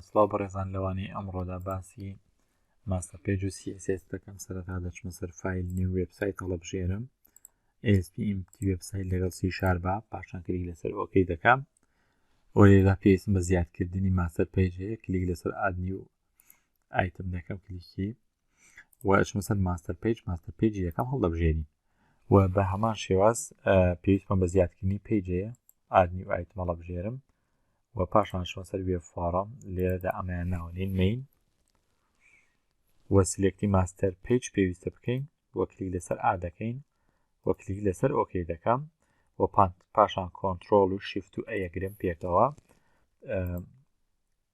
سڵاو بەڕێزان لەوانەی ئەمڕۆدا باسی ماستەر پێج و سیسس دەکەم سەرەتا دەچمە سەر فیل نیو وبسایت هەڵبژێرم ئسپمتی وبسایت لەگەڵ سی شاربا پاشان کلیک لەسەر ئۆکەی دەکەم و لێدا پێویستم بە زیادکردنی ماستەر پێج هەیە کلیک لەسەر ئادنی و ئایتم دەکەم کلیکی وەچمە سەر ماستەر پێج ماستەر پێجی یەکەم هەڵدەبژێنی و بە هەمان شێواز پێویستمان بە زیادکردنی پێجەیە ئادنی و ئایتمەڵە بژێرم و پاشان شۆن سەر وێ فۆڕم لێرەدا ئەمەیان ناوەنین مین وە سلێکتی ماستەر پیج پێویستە بکەین وە کلیک لەسەر ئا دەکەین وە کلیک لەسەر ئۆکەی دەکەم وە پانت پاشان کۆنتترۆل و شیفت و ئەیەگرم پێکەوە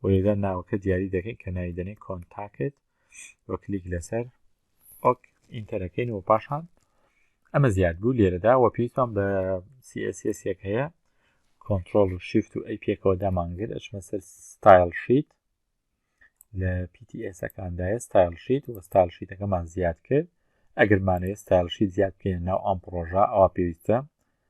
و لێرە ناوەکە دیاری دەکەین کە ناوی دەنێ کۆنتاکت و کلیک لەسەر ئۆک ئینتەرەکەین و پاشان ئەمە زیاد بوو لێرەدا وە پێیتان بە سیسیەک هەیە کۆنتترۆل و شیفت و ئەی پێکەوە دامانگر ئەچمە سەر ستایل شیت لە پیتیسەکاندایە ستایل شیت و ستایل شیتەکەمان زیاد کرد ئەگەرمانەیە ستایل شیت زیاد بکەین ناو ئەم پرۆژە ئەوە پێویستە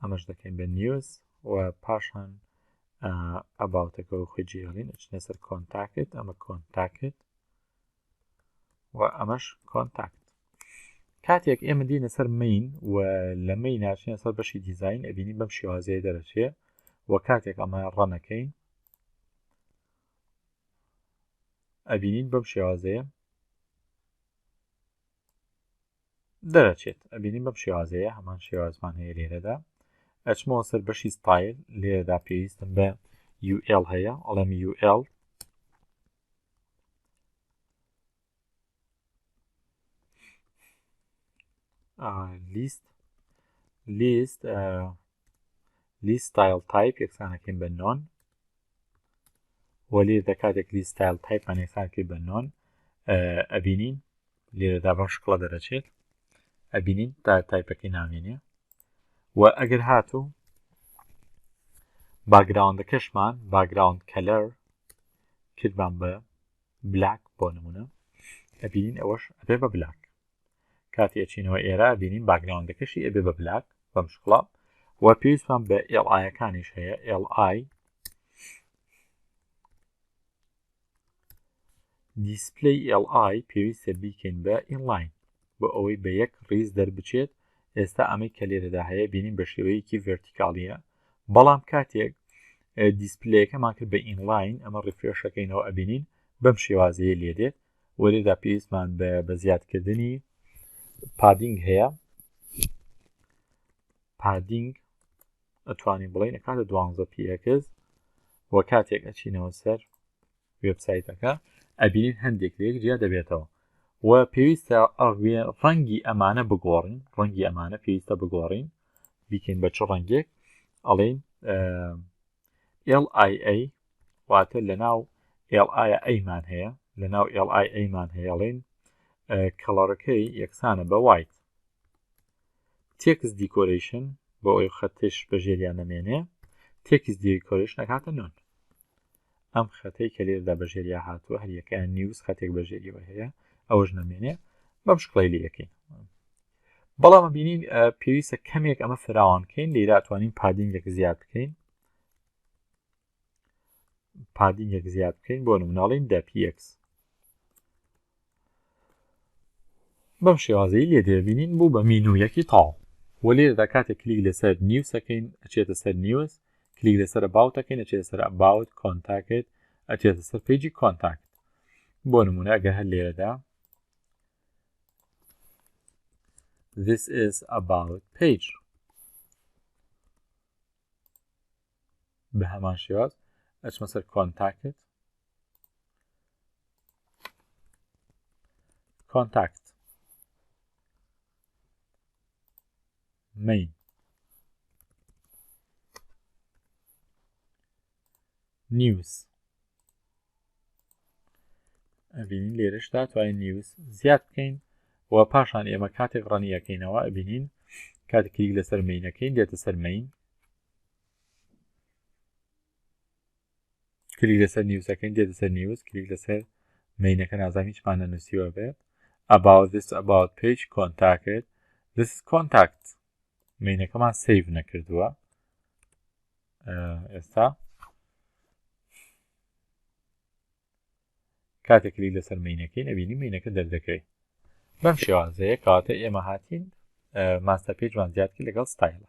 ئەمەش دەکەین بە نیوز و پاشان ئەباوتەکە و خۆی جێڵین ئەچنە سەر کۆنتاکت ئەمە کۆنتاکت و ئەمەش کۆنتاکت کاتێک ئێمە دینە سەر مین و لەمەی ناچینە سەر بەشی دیزین ئەبینی بەم شێوازەیە دەرەچێ و کاتێک ئەمە ڕەنەکەین ئەبینین بەم شێوازەیە دەرەچێت ئەبینین بەم شێوازەیە هەمان شێوازمان هەیە لێرەدا ئەچمەوە سەر بەشی ستایل لێرەدا پێویستم بە UL هەیە ئەڵێم UL لیست لیست لیست ستایل تایپ یەکسانەکەین بە نۆن وەلێ دە کاتێک کلیس ستایل تایپمان یەکسان کرد بە نۆن ئەبینین لێرەدا بەم شکڵە دەرەچێت ئەبینین تا تایپەکەی نامێنێ و ئەگەر هاتوو باگراوندەکەشمان باگراوند کەلەر کردمان بە بلاک بۆ نمونە ئەبینین ئەوەش ئەبێ بە بلاک کاتی ئەچینەوە ئێرە بینین باگراوندەکەشی ئەبێ بە بلاک بەم شکڵە و پێویستمان بە ئێڵ ئایەکانیش هەیە ئێڵ ئای دیسپلی ئێڵ ئای پێویستە بیکەین بە ئینلاین بۆ ئەوەی بە یەک ڕیز دەربچێت ئێستا ئەمەی کە لێرەدا هەیە بینین بە شێوەیەکی ڤێرتیکاڵیە بەڵام کاتێک دیسپلەکەمان کرد بە ئینلاین ئەمە ڕفرێشەکەینەوە ئەبینین بەم شێوازەیە لێ دێت وەرێدا پێویستمان بە زیادکردنی پادینگ هەیە پادینگ ئەتوانین بڵین کاتە دوانزە پیکز و کاتێک ئەچینەوە سەر وبسایتەکە ئەبینین هەندێک لێک جیا دەبێتەوە و پێویستە ئەڕێ ڕەنگی ئەمانە بگۆڕین ڕەنگی ئەمانە پێویستە بگۆڕین بیکەین بە چ ڕەنگێک ئەڵین LIA واتە لەناو LIA مان هەیە لەناو LIA مان هەیەڵین کەڵەڕەکەی یەکسانە بە وایت تێکس دیکۆریشن بۆ ئەوی خەتش بە ژێریان نەمێنێ تێکس دیکۆریشن نەکاتە نۆن ئەم خەتەی کە لێردا بە ژێریا هاتووە هەریەکەیان نیوز خەتێک بە ژێریەوە هەیە ئەوەش نەمێنێ بەم شکڵی لەکەین بەڵام ئەبینین پێویستە کەمێک ئەمە فراوان بکەین لێرا توانین پادینگێک زیاد بکەین پادینگێک زیاد بکەین بۆ نمناڵین دە پX بەم شێوازەی لێ دەبینین بوو بە مینویەکی تاو و لێرەدا کاتێک کلیک لەسەر نیوسەکەین ئەچێتە سەر نیوز کلیک لەسەر باوتەکەین ئەچێتە سەر باوت کۆنتاکت ئەچێتە سەر پیجی کۆنتاکت بۆ نمونە ئەگە هەر لێرەدا This is about page بە هەمان شێواز ئەچمە سەر کۆنتاکت کۆنتاکت مین نیوز ئەبینین لێرەشدا توانین نیوز زیاد بکەین و پاشان ئێمە کاتێک ڕەنیەکەینەوە ئەبینین کاتێکیک لەسەر مینەکەین دێتە سەر مین کلیک لەسەر نیوزەکەین دێتە سەر نیوز کلیک لەسەر مینەکە نازام هیچمان نەنووسیوە بێت about this about page contact this is contact مینەکەمان سیڤ نەکردووە ئێستا کاتێک کلیک لەسەر مینەکەی نەبینی مینەکە دەردەکەی بەم شێوازەیە کاتە ئێمە هاتین ماستە پێجمان زیادکە لەگەڵ ستایلە